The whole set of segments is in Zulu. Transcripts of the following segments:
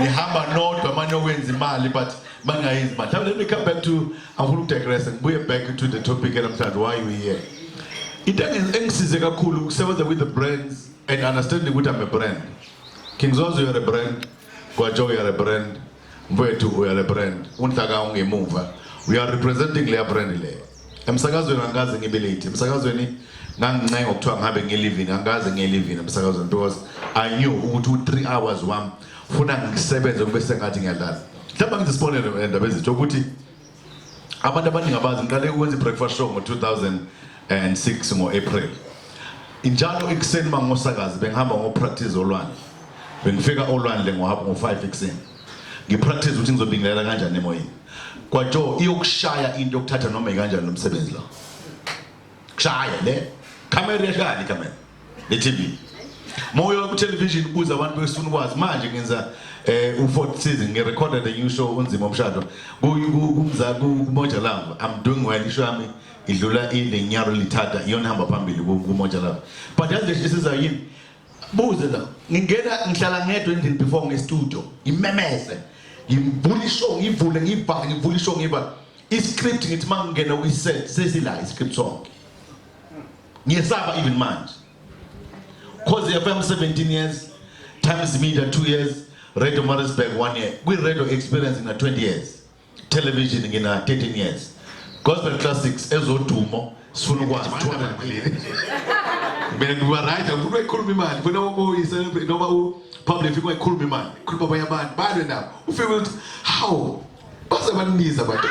nihamba nodwa manje okwenza imali but bangayenzi manje let me come back to angifuna ukudigress ngibuye back to the topic namhlanje why we here into engisize kakhulu ukusebenza with the brands and understanding ukuthi I'm a brand King Zozo you're a brand Gwajo you're a brand mfowethu uyale brand unhlaka ungemuva we are representing leya brand leyo Emsakazweni angikaze ngibe late. Emsakazweni ngangincenga ngokuthiwa ngihambe ngiye livini angikaze ngiye livini emsakazweni because I knew ukuthi u-3 hours wami funa ngisebenze kube sengathi ngiyadlala. Mhlawumbe ngithi isibonelo endaba ezitho ukuthi abantu abaningi abazi ngiqale ukwenza i-breakfast show ngo-2006 ngo-April. Njalo ekuseni mangosakazi bengihamba ngopractice olwandle. Bengifika olwandle ngohaphu ngo-5 ekuseni. Ngipractice ukuthi ngizobingelela kanjani emoyeni. Kwajo iyokushaya into okuthatha noma ikanjani lo msebenzi lo. Kushaya le camera yashaya camera. Le TV. Moya ku television ubuza abantu besifuna ukwazi manje ngenza eh u4 season ngi recorded a new show unzima umshado. Kumza kumoja love. I'm doing well isho yami idlula ilenyaro lithatha iyona hamba phambili kumoja love. But yazi lesiza yini? Buze la. Ngingena ngihlala ngedwa endlini before nge studio. Ngimemeze. Ngivula ishow ngivule ngivale ngivula ishow ngivale. I script ngithi mangingena kwi set sesila i script sonke. Ngiyesaba even manje. Cause FM 17 years, Times Media 2 years, Radio Maritzburg 1 year. Kwi radio experience na 20 years. television ngina 13 years gospel classics ezodumo sifuna ukwazi 200 million mina ngiba right ngifuna ukukhuluma imali ngifuna uyi celebrate noma u public ngifuna ukukhuluma imali khuluma abanye abantu balwe nabo ufike ukuthi how base banibiza abantu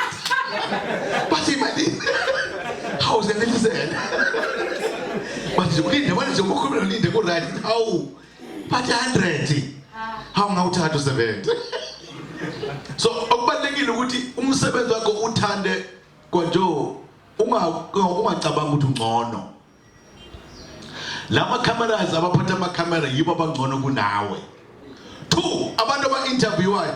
bathi imali how senelisela manje ulinde manje ukhuluma ulinde ku right how but 100 hawu ngawuthatha usebenze so okubalekile ukuthi umsebenzi wakho uthande kwanjo ungacabanga ukuthi ungcono lama cameras abaphatha ama camera yibo abangcono kunawe two abantu aba interviewayo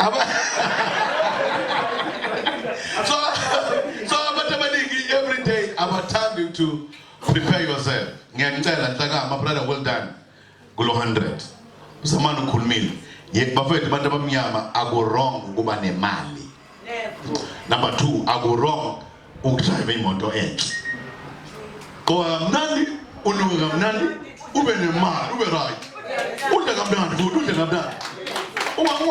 Aba- so, so abantu abaningi every day abathandi to prepare yourself ngiyanicela nhlakama brother well done kulo 100 usamane ukhulumile ye bafethu abantu abamnyama aku wrong ukuba nemali number 2 akurong ukudrive imoto enhle qoba kamnandi unuke kamnandi ube nemali ube right udle kamnandi futhi udle kamnandi ungasabi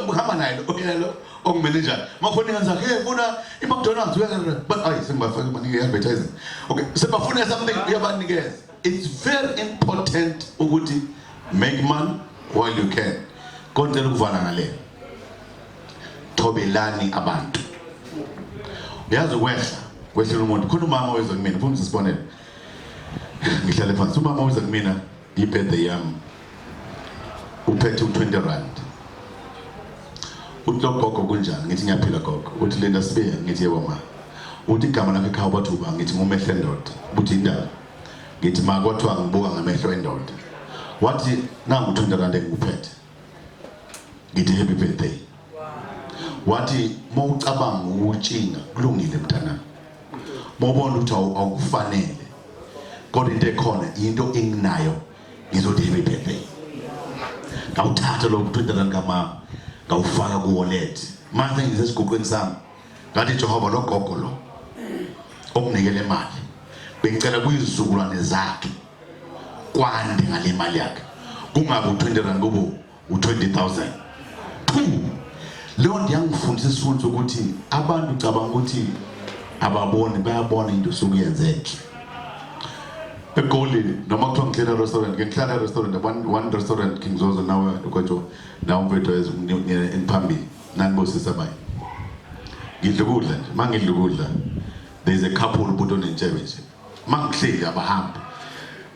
uhamba naye lo ongumenenjani makhona ingane zakhe funa i-mcdonalds uyabona ayi sengibafake banika i-advertising okay sebafuna something uyabanikeza It's very important ukuthi make money while you can. Konke lokuvala ngale. Thobelani abantu. Uyazi kwehla kwehla umuntu khona umama weza kumina phumza sibonele. Ngihlale phansi umama weza kumina ibirthday yami uphethe u-20 rand uthi logogo kunjani ngithi ngiyaphila gogo uthi linda sibiya ngithi yebo ma uthi igama lakhe ekhaya ubathi uba ngithi ngumehlo endoda uthi indaba ngithi ma kwathiwa ngibuka ngamehlo endoda wathi nangu u-20 rand engikuphethe ngithi happy birthday wathi uma ucabanga ukutshinga kulungile mntanami uma ubona ukuthi awukufanele kodwa into ekhona into enginayo ngizothi happy birthday ngawuthatha lo mntwana kamama ngawufaka ku wallet manje ngisesiguqweni sami ngathi Jehova lo gogo lo okunikele imali bengicela kuyizukulwane zakhe kwande ngale mali yakhe kungabe u20 rand kubo u-20000 two leyo nto yangifundisa isifundo sokuthi abantu cabanga ukuthi ababoni bayabona into osuke yenzenhle egoli noma kuthiwa ngihlela restaurant ke ngihlala restaurant one, one restaurant king zozo nawe kwatsho nawe mfethu engiphambili nanibosisa bayi ngidla ukudla nje uma ngidla ukudla there is a couple ubuti onentshebe nje mangihleli abahambi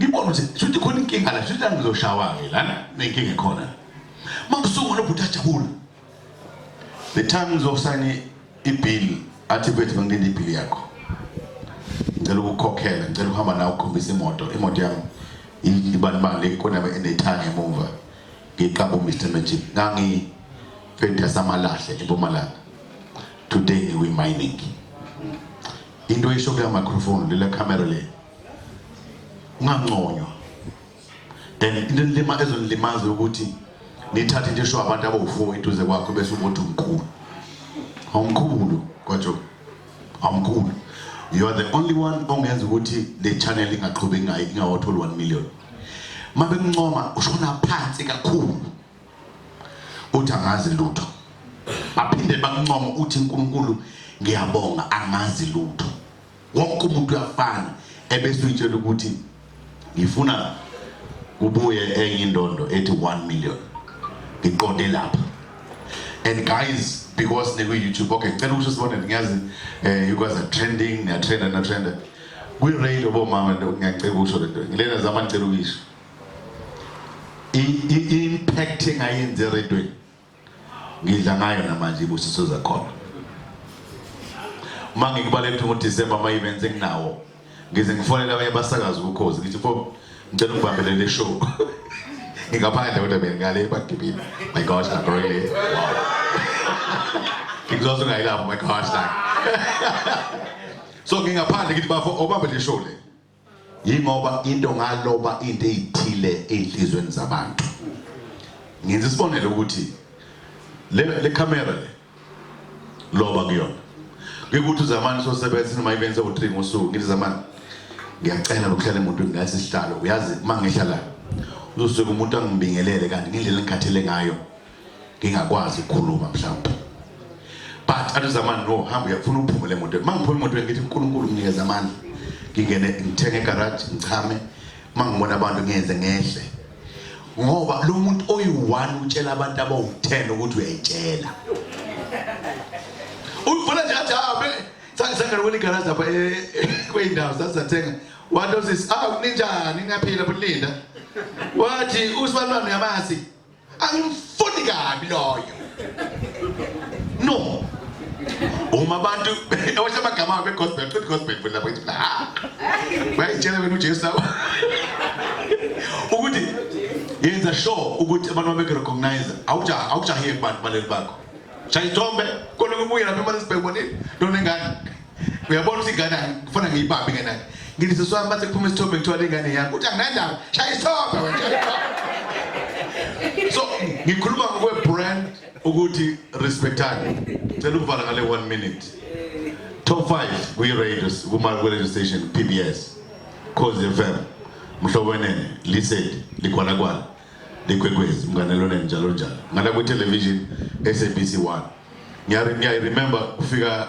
ngibona ukuthi shuthi khona inkinga la shuthi angizoshawa-ke lana nenkinga ekhona mangisungwa nobhuti ajabula the time ngizosayina ibill athi bethu bangilinde ibill yakho ngicela ukukhokhela ngicela ukuhamba nawe ukhombisa imoto imoto yami ibanibani lekonaba enethanga emuva ngiqaba uMr Magic ngangi fenda samalahle eMpumalanga today we mining Into oyisho kule microphone lele camera le. Unganconywa. And into lima ezonilimaza ukuthi nithathe into esho abantu abawufo eduze kwakho bese umuntu mkhulu. Awumkhulu kwaJobe. Awumkhulu. You are the only one ongenza ukuthi le channel ingaqhubeki ngayi ingawathola 1 million. Mabe mncoma ushona phansi kakhulu. uthi angazi lutho baphinde bakuncoma uthi uNkulunkulu ngiyabonga angazi lutho wonke umuntu uyafana ebese uyitshela ukuthi ngifuna kubuye enye indondo ethi 1 million ngiqonde lapha and guys because neku YouTube okay cela ukusho sibone ngiyazi eh you guys are trending niya trenda na trenda kwi rail obomama ngiyacela ukusho lento ngilena zama ngicela ukuyisho i-impact engayenzi eredweni ngidla ngayo namanje ibusiso zakhona uma ngikubalekuthe ngodisemba ama-events enginawo ngize ngifonele abanye basakazi ukukhozi ngithi fo ngicela ungibambele le show ngingaphandle kodwa bengale bagibile my gosh nagoile ngikuzoze ungayilapho my gosh so ngingaphandle ngithi bafo obambe le show le yingoba into ngaloba into ezithile ezinhlizweni zabantu ngenza isibonelo ukuthi le le camera le loba kuyona ngikuthi uzamani sosebenza noma ibenze u3 ngosuku ngithi zamani ngiyacela ukuhlala emuntu ngase sihlalo uyazi mangihlala uzosuka umuntu angibingelele kanti ngindlela engikhathele ngayo ngingakwazi ukukhuluma mhlawumbe but athi zamani no hamba uyafuna uphume le moto mangiphuma imoto ngithi uNkulunkulu nginikeza amandla ngingene ngithenge garage ngichame mangibona abantu ngenze ngehle ngoba lo muntu oyi-one utshela abantu abawu-ten ukuthi uyayitshela uyibona nje athi abe ah, sangisangana kweli garaji lapha eh, eh, kweyindawo sasizathenga wathi osisi ah ninjani ningaphila bulinda wathi usibalulwane uyamazi angimfuni kabi loyo no uma abantu ewasha amagama abo egospel aqeda gospel futhi lapho ithi ah bayitshela wena uJesu lapho ukuthi yenza sure ukuthi abantu babeke recognize awuja awujahiye kubantu baleli bakho shayithombe kona kubuye lapha imali sibhekubonile lona engane uyabona ukuthi ingane ngifuna ngiyibambe ingane yakhe ngithi sisi wami bathe kuphuma isithombe ngithiwa le ngane yakho uthi anginandaba shaya isithombe wena so ngikhuluma ngokwe-brand ukuthi respectani cela ukuvala ngale one minute top 5 kwi-radio kuma-radio station p b s cause f m mhlobo wenene liseli likhwalakwana likwekwezi mnganeloneni njalo njalo ngala kwi-television sabc 1 ngiyayiremember kufika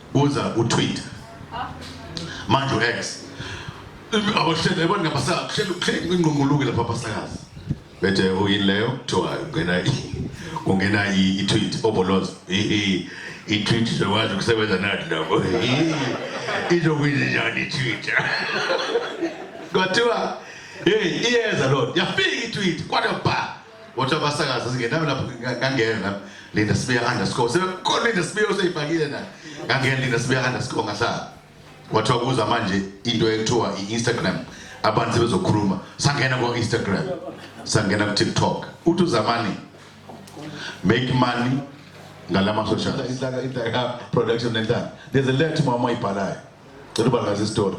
Buza uTwitter. Manje uX. Abahlele abantu ngabasaka kuhlele kuhlele ingqunguluke lapha abasakazi. Bethe uyini leyo kuthiwa ungena ungena i-tweet oboloz. Ehe i-tweet sokwazi ukusebenza nathi lapho. Izokwenza njani i-tweet? Kuthiwa hey iyeza lona yafika i-tweet kwada ba Kodwa abasakazi singenami lapho ngangena lapho Linda Sibiya underscore sebekhona Linda Sibiya oseyifakile na ngangena Linda Sibiya underscore ngahlala kwathiwa kuza manje into ekuthiwa i-Instagram abantu sebezokhuluma sangena kwa Instagram sangena ku TikTok uthi uzamani make money ngalama social inhlaka inhlaka production nenhlaka there's a letter mama ibhalayo cela ubalaza istory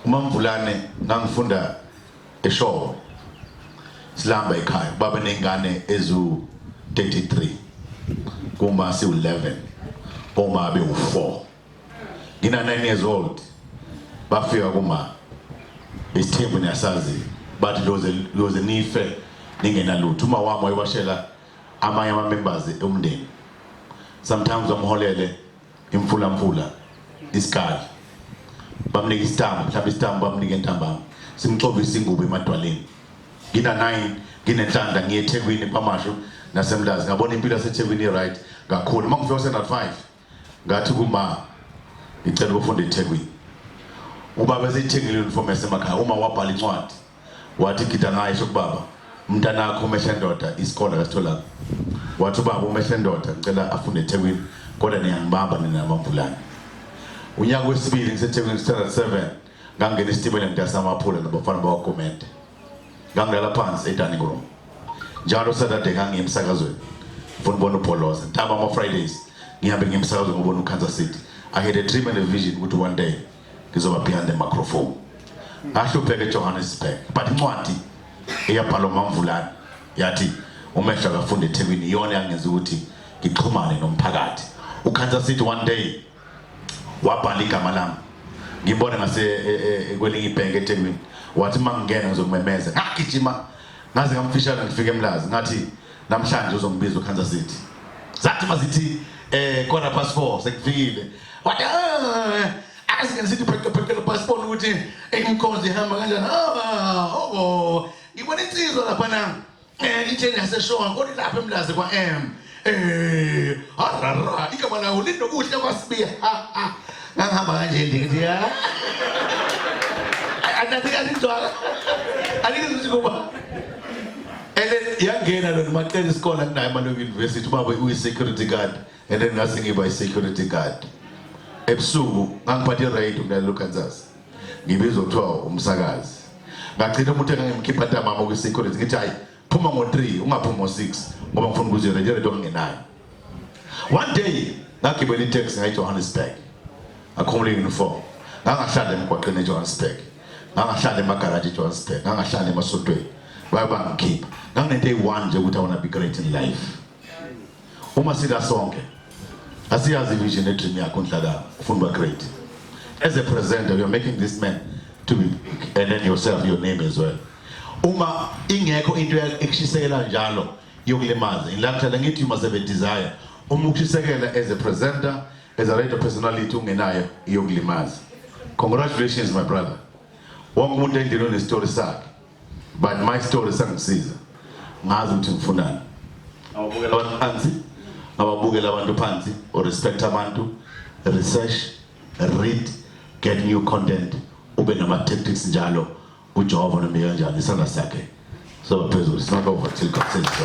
uma mvulane ngangifunda Eshowe silamba ekhaya baba nengane ezu 33 kuma siwu 11 uma be u4 ngina 9 years old bafika kuma isithembu niyasazi bathi loze loze nife ningena lutho uma wami wayewashela amanye ama members omndeni sometimes amholele imfulamfula isikali bamnika isitambu mhlawumbe isitambu bamnika entambama simxovisa ingubo emadwaleni ngina 9 nginenhlanda ngiye eThekwini kwamasho nasemlazi ngabona impilo yaseThekwini i-right kakhulu uma ngifika standard 5 ngathi kuma ngicela ukufunda eThekwini ubaba eseyithengile uniform yasemakhaya uma wabhala incwadi Wathi gida ngaye sho kubaba, umntanakho umehle ndoda isikole akasitholanga. Wathi ubaba umehle ndoda ngicela afunde eThekwini kodwa niyangibamba nina namamvulane. Unyaka wesibili ngiseThekwini standard 7 ngangena isitimela ngidasa amaphula nabafana bakwaGumede. Ngangilala phansi edining room. Njalo Saturday ngangiye emsakazweni. Ngifuna ukubona uBholoza. Ntamba ama Fridays ngihambe ngiye emsakazweni ngobona uKansas City. I had a dream and a vision ukuthi one day ngizoba behind the microphone ngahlupheka eJohannesburg but incwadi eyabhalwa uMamvulane yathi umehlo akafunda eThekwini iyona yangenza ukuthi ngixhumane nomphakathi uKhansa sithi one day wabhala igama lami ngibone ngase e, e, e, kwelinye ibhenki eThekwini wathi mangingena ngizokumemeza ngagijima ngaze ngamfishana ngifike emlazi ngathi Namhlanje uzongibiza uKansas City. Zathi mazithi eh quarter past 4 sekufikile. Wathi eh asike sithi pheke pheke lo passport ukuthi imkhonzi ihamba kanjani. Ah, oh, oh. Ngibona insizwa lapha na. Eh itheni yaseshonga kodwa lapha emlazi kwa M. Eh, harara, igama lawo linokuhle kwasibiya. Ha ha. Ngangihamba kanje ndithi ya. Andathi kanjalo. Angithi kuba and then yangena lona macela isikole anginayo amalungu university ubaba uyi-security guard and then ngase ngiba i-security guard ebusuku ngangiphatha i-radio kunalelo kansas ngibizwa kuthiwa umsakazi ngagcina umuntu engangimkhipha ntamama kwi-security ngithi hayi phuma ngo-three ungaphumi ngo-six ngoba ngifuna ukuze i-radio radio ngingenayo One day ngagibela itaxi ngayi Johannesburg. Ngakhumula uniform. Ngangahlala emgwaqeni eJohannesburg. Ngangahlala emagaraji eJohannesburg. Ngangahlala emasontweni. Baye bangikhipha. Nganginento eyi-one nje ukuthi I wanna be great in life. Uma sila sonke asiyazi vision nedream yakho nhlaka ufuna uba great. As a presenter you're making this man to be and then yourself your name as well. Uma ingekho into ekushisekela njalo yokulimaza ngilakuthatha ngithi you must have a desire uma ukhisekela as a presenter as a radio personality ungenayo iyokulimaza congratulations my brother wonke umuntu endlini unestory sakhe but my story sangisiza ngazi ukuthi ngifunani ababukela abantu phansi ababukela abantu phansi or respect abantu research read get new content ube nama tactics njalo UJehova nombe kanjani isandla sakhe soba phezulu. It's not over till God says so.